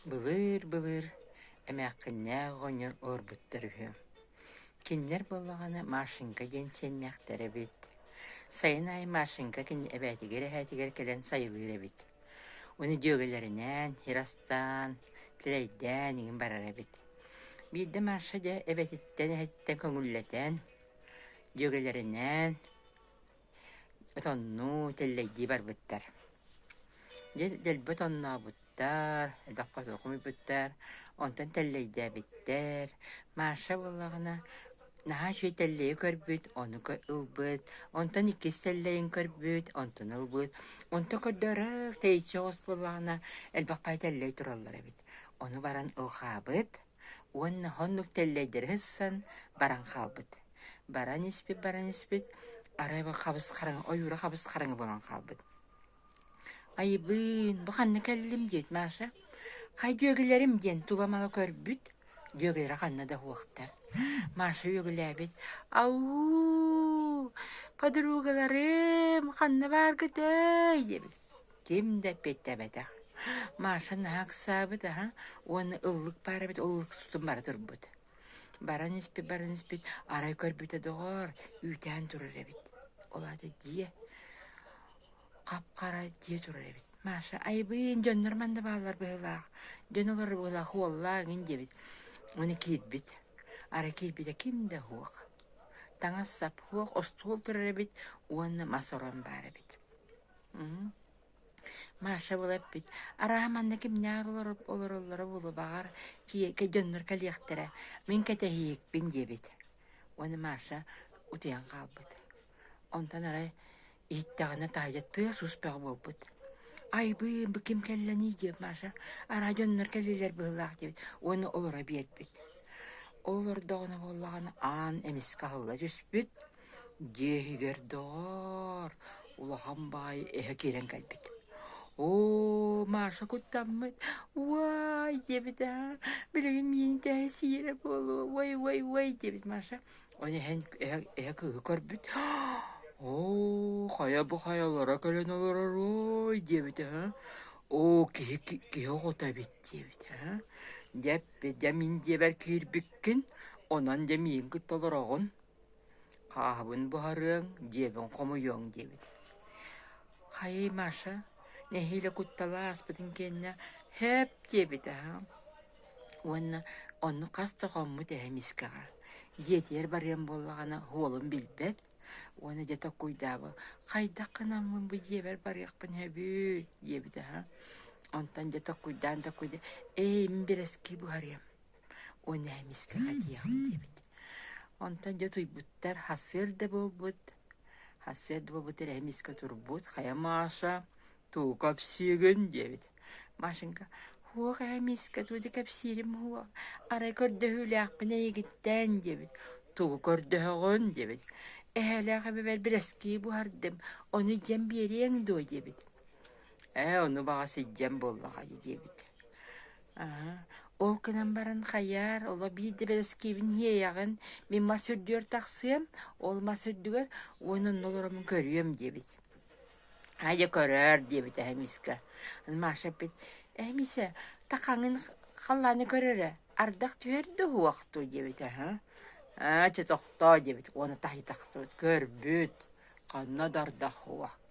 Былыыр-былыр эмээххиннээх оҕонньор олорбуттар үһү. Кинилэр буоллаҕына Машенька диэн сиэннээхтэр эбит. Сайын аайы Машенька кинини эбээтигэр-эһээтигэр кэлэн сайылыыр эбит. Ону дьүөгэлэринээн иһэр астаан, тилэйдээн иҥин барар эбит. Биирдэ Маша дьэ эбэтиттэн, эһэтиттэн көҥүллэтэн, дьүөгэлэринээн Отоннуу, тэллэйдии барбыттар. Дьэ, дэлби отоннообуттар, элбэххэ утурук умуйбуттар, онтон тэллэйдээбиттэр. Маша буоллаҕына, наһаа үчүгэй тэллэйи көрбүт, ону ылбыт, онтон иккис тэллэйин көрбүт, онтуну ылбыт. Онто көрдөөрөөх тэйиччи оҕус буоллаҕына, элбэххэ тэллэй тураллар эбит. Ону баран ылҕаабыт. уонна оннук тэллэйдэри һысан баран хаалбыт. Баран испит, баран испит, арай бу хабыс-хараҥа, ойуура хабыс-хараҥа буолан хаалбыт. Айбыын, бу ханна кэллим диэт Маша, «Хай дьүөгэлэрим» диэн тула-мала көрбүт, дьүөгэлэрэ ханна да уһуохтар. Маша үөгүлээбит, «Ау, подругаларым, ханна бааргытай?» диэбит. ким да эппиэттэбэтэх. Маша наһаа ыксаабыт аһа уонна ыллык баар эбит, ыллык тутун бара турбут. Баран испит, баран испит, арай көрбүтэ доҕоор, үүтээн турар эбит. Ол аата дьиэ хап-хара дьиэ турар эбит. Маша, айбыын, дьоннор манна бааллар быһыылаах. Дьон олор быһыылаах, уоллаа гин диэбит. Оны киирбит. Ара киирбитэ ким да хуох. Таҥас-сап хуох, остуол турар эбит уонна мас орон баар эбит. Маша була эппит: «Арааһа манна кимнээх олороллоро буолубаҕар, дьоннор кэлиэхтэрэ, мин кэтэһиэкпин» диэбит. Уонна Маша утуйан хаалбыт. Онтон арай иһиттэҕинэ таһырдьа тыас-уус бөҕө буолбут: «Айбыын, бу ким кэллэний?» диэбит Маша: «Арааһа дьоннор кэллилэр быһыылаах» диэбит уонна олоро биэрбит. Ол олордоҕуна буоллаҕына аан эмискэ аһылла түспүт Дьиэһигэр доҕоор, улахан баай эһэ киирэн кэлбит. «Оо, Маша куттаммыт, уай!» диэбит аа, билигин миигин тэһэ сиэрэ буолуо, уой, уой, уой диэбит Маша. Ол иһин эһэ, эһэ кыыһы көрбүт, «Оо, хайа бу хайалара кэлэн олоророй?» диэбит аһа. «Оо, киһи, киһи оҕото эбит» диэбит аһа. «Дьэ эппит, дьэ мин дьиэбэр киирбиккин, онон дьэ миигин кытта олороҕун». Хааһыбын буһарыаҥ, дьиэбин хомуйуоҥ диэбит «Хайыы, Маша, нэһиилэ куттала ааспытын кэннэ һээп» диэбитэ аһаҕын уонна «Онно хас да хоммут эһэ мискэҕэ, дьиэтигэр барыам буоллаҕына уолум билбэт уонна дьэ токкуйдаабы хайдах гынаммын бу дьиэбэр барыахпын сөбүй» диэбитэ аһа онтон дьэ токкуйдаан токкуйдаан «Ээй, мин бэрэски буһарыам» Уонна эмискэҕэ этиэҕим диэбит онтон дьэ утуйбуттар сарсыарда буолбут сарсыарда буолбут эрэ эмискэ турбут хайа Маша туу-ка кэпсиигин диэбит Машенька һуох ээ эмискэ тугу да кэпсиирим уо арай көрдөһүүлээхпин эйигиттээн диэбит тугу көрдөһөҕүн диэбит эһээлээх эбэбэр бэрэскии буһардым ону дьэн биэриэҥ дуо диэбит Ээ, ону баҕас илдьэн буоллаҕа дии диэбит. Аһа, ол гынан баран хайаар, оло биирдэ бэрэскиэбин иэйэҕин, мин мас үрдүгэр тахсыам, ол мас үрдүгэр уонна онно олороммун көрүөм диэбит. Хайа көрөөр диэбит эһэ миискэ. Маша эппит, эһэ миисэ, такаҥын халлааны көрөрө, ардах түһэр да уһуохтуу диэбит аһа. Аа, чэ тохтоо диэбит уонна таһыы тахсыбыт, көрбүт, ханна да ардах уо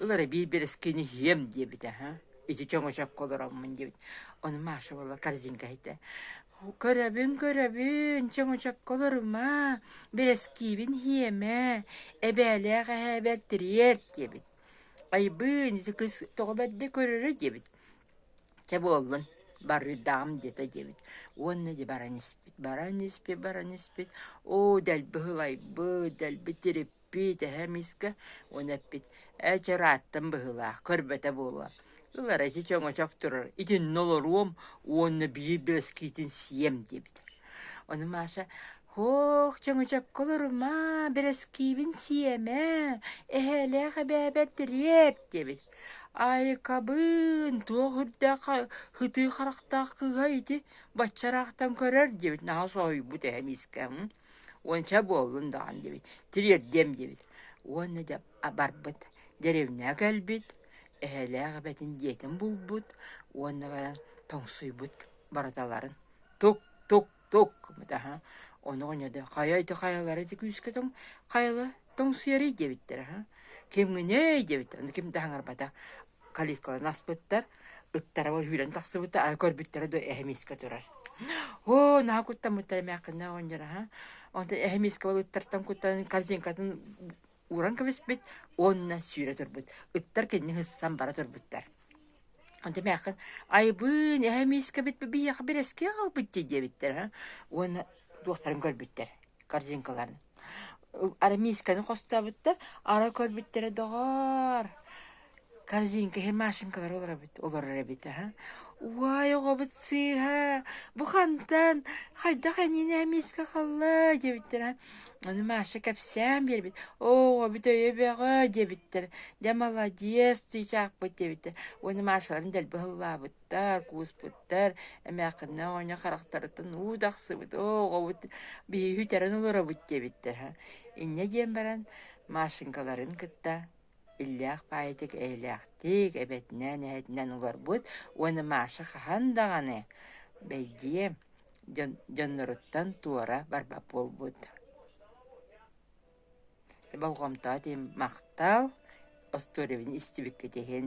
Ылара биир бэрэскини иһиэм диэбитэ аһа, ити чөҥөчөккө олороммун диэбит. Ону Маша буола корзинкаһыйда. Көрөбүн, көрөбүн, чөҥөчөккө олорума, бэрэскиибин иһиэмэ, эбээлээх эһээ бэртириэр диэбит. Айбыын, ити кыс тоҕо бэрдэ көрөрө диэбит. Чэ буоллун, барыдаам диэтэ диэбит. Уонна ди баран испит, баран испит, баран испит. Оо дэлби ылайбыт, дэлби тириппит. Пиитэһэ миска уон эппит «Ээ чэ ырааттым быһыылаах, көрбөтө буолуо». Ылара ити чөҥөчөх турар, итиннэ олоруом уонна биир бэскиитин сиэм диэбит. Ону Маша «Һоох, чөҥөчөккө олорумаа, бэрэскиибин сиэмэ, эһээлээх эбээбэр тириэр» диэбит. «Айыкабын, туох үрдээх һытыы харахтаах кыыһа ити баччараахтан көрөр» диэбит наһаа соһуйбут эһэ миискэ. Уонча буоллун даҕан диэбит, тириэрдиэм диэбит. Уонна дьэ барбыт, деревняга кэлбит, эһэлээх эбэтин дьиэтин булбут уонна баран тоҥсуйбут барыталарын тук, тук, тук гыммыта Ону оҕонньордор хайа ити хайалара ити күүскэ тоҥ хайала тоҥсуйарый диэбиттэр аха. Кимҥиний диэбиттэр. Ким да хаҥарбата. калиткаларын аспыттар, ыттарава үүрэн тахсыбыта, ара көрбүттэрэ да эһэмиискэ турар. Оо, наһаа куттаммыттар эмээхкиннэ оонньура ха. Онтон эһэмиискэ ол ыттартан куттан корзинкатын ууран кэбиспит уонна сүүрэ турбут. Ыттар кинини һыссан бара турбуттар. Онтон эмээххин айбыын эһэмиискэ бит биһиэхэ бэрэскиэ хаалбыт дии диэбиттэр ха. Уонна туохтарын көрбүттэр корзинкаларын. Арамиисканы хостообуттар, ара көрбүттэрэ доҕоор, корзинкаһы, машинкалары олоробут олорор эбит аһа. Уай, оҕобут сыыһа, бу хантан, хайдах эниинэ миискэ халлаа диэбиттэр аһа. Аны Маша кэпсээн биэрбит, оҕобут өйө бөҕө диэбиттэр. Дьэ, молодец, чыычаахпыт диэбиттэр. Уонна Машаларын дэлби һыллаабыт. Та, кууспуттар, эмээхкиннэ оҕонньо харахтарытын уу тахсыбыт, оо, оҕобут биһиги үтэрэн олоробут диэбиттэр үһү. Инньэ диэн баран Машенькаларын кытта иллээх паайытык эйэлээхтик, эбэтинэн, эһэтинэн олорбут уонна Маша хаһан даҕаны бэйдиэ дьон дьонноруттан туора барбат буолбут. болҕомтоҕо тиийэн махтал остуоруйабын истибиккит иһин